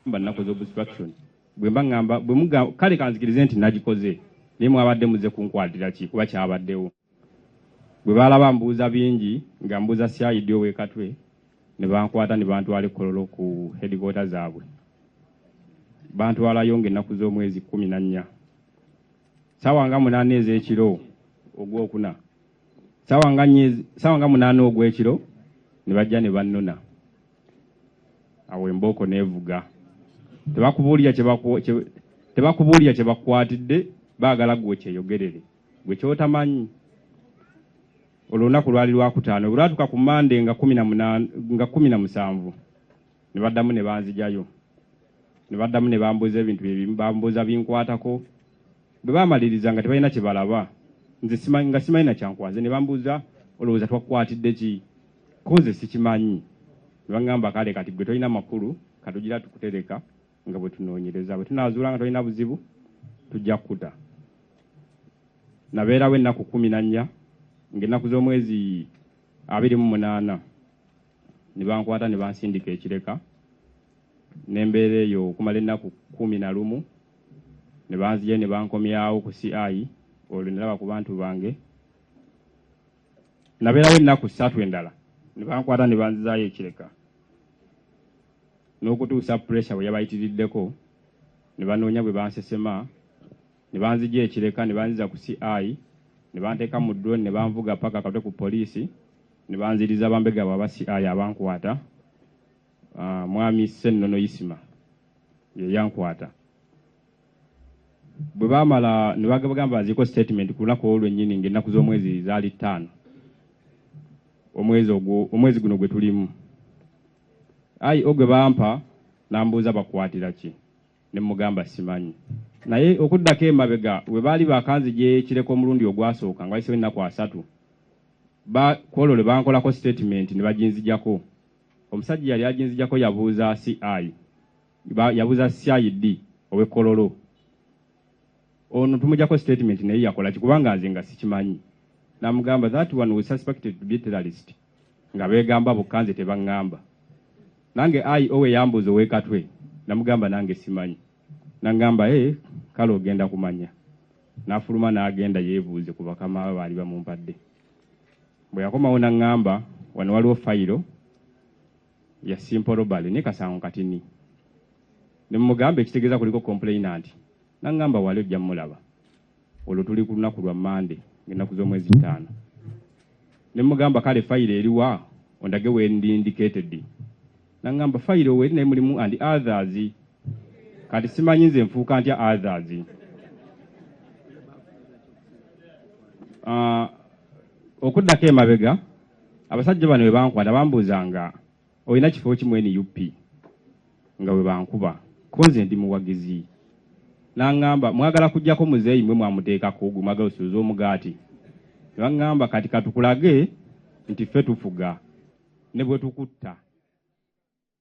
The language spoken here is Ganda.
Mba nakoze obstruction bwemba ngamba bwemuga kale kanzikirize nti nagikoze naye mwabadde muze kunkwaatira ki kuba kyabaddewo bwe baalaba mbuuza bingi nga mbuuza CID ow'e Katwe ne bankwata ne bantwala e Kololo ku headquarter zaabwe bantwalayo ng'ennaku z'omwezi kkumi na nnya ssaawa nga munaana ez'ekiro ogwokuna ssaawa nga munaana ogw'ekiro ne bajja ne bannona awo embooko neevuga tebakubuulira tebakubuulira kye bakukwatidde baagala gwe okyeyogerere gwe kyotamanyi olunaku lwali lwakutaano bwe lwatuuka ku mande nga kumi na musanvu ne baddamu ne banzijayo ne baddamu ne bambuuza ebintu byebambuuza binkwatako Bwe baamaliriza nga tebalina kye balaba nze nga simanyi na kyankwaze ne bambuuza olowooza twakukwatidde ki ko nze sikimanyi ne baŋŋamba kale kati ggwe tolina makulu katugira tukutereka nga bwe tunoonyereza bwe tunaazuula nga tolina buzibu tujja kukuta nabeerawo ennaku kkumi na nnya ng'ennaku z'omwezi abiri mu munaana ne bankwata ne bansindika ekireka ne mbeera eyo okumala ennaku kkumi na lumu ne banzigyayo ne bankomyawo ku CI olwo ne laba ku bantu bange. Nabeerawo ennaku ssatu endala ne bankwata ne banzizaayo e Kireka n'okutuusa puleesa bwe yabayitiriddeko ne banoonya bwe bansesema ne banzigya e Kireka ne banziza ku CI ne banteeka mu drone ne banvuga paka Katwe ku poliisi ne banziriza bambega baabwe aba CI abankwata. Uh, mwami Ssennono Isima ye yankwata bwe baamala ne bagamba baziiko statement ku lunaku olwo lwennyini ng'ennaku z'omwezi zaali ttaano omwezi ogwo omwezi guno gwe tulimu ayi ogwe bampa n'ambuuza bakwatira ki ne mugamba simanyi naye okuddako emabega bwe baali bakanzi gyekireka omulundi ogwasooka nga wayisewo ennaku asatu kwolwo lwe bankolako statement ne baginzijako Omusajja eyali aginzijako yabuuza CI yabuuza CID ow'e Kololo ono tumujako statement naye yakola ki kubanga nze nga sikimanyi namugamba that one was suspected to be terrorist nga beegamba bokka nze tebaŋŋamba nange ayi owe yambuuza ow'ekatwe namugamba nange simanyi naŋŋamba e eh, kale ogenda kumanya n'afuluma n'agenda yeebuuze ku bakama baali bamumpadde Bwe yakomawo n'aŋŋamba, Wano waliwo fayiro ya Simple Robbery ne kasango katini. Ne mmugamba ekitegeeza kuliko complainant. N'aŋŋamba, Wali ojja mmulaba. Olwo tuli ku lunaku lwa Mmande ng'ennaku z'omwezi ttaano. Ne mmugamba, Kale fayiro eri wa? Ondage w'endi indicated. nangamba fayiro weri naye mulimu and others kati simanyi nze nfuuka ntya others uh, okuddako emabega abasajja bano webankwata bambuuza nga olina kifo kimu nup nga webankuba konze ndi muwagizi N'aŋŋamba, Mwagala kuggyako muzeeyi mwe mwamuteekako, gwe mwagala osuuze omugaati? Ne baŋŋamba, Kati ka tukulage nti ffe tufuga, ne bwe tukutta.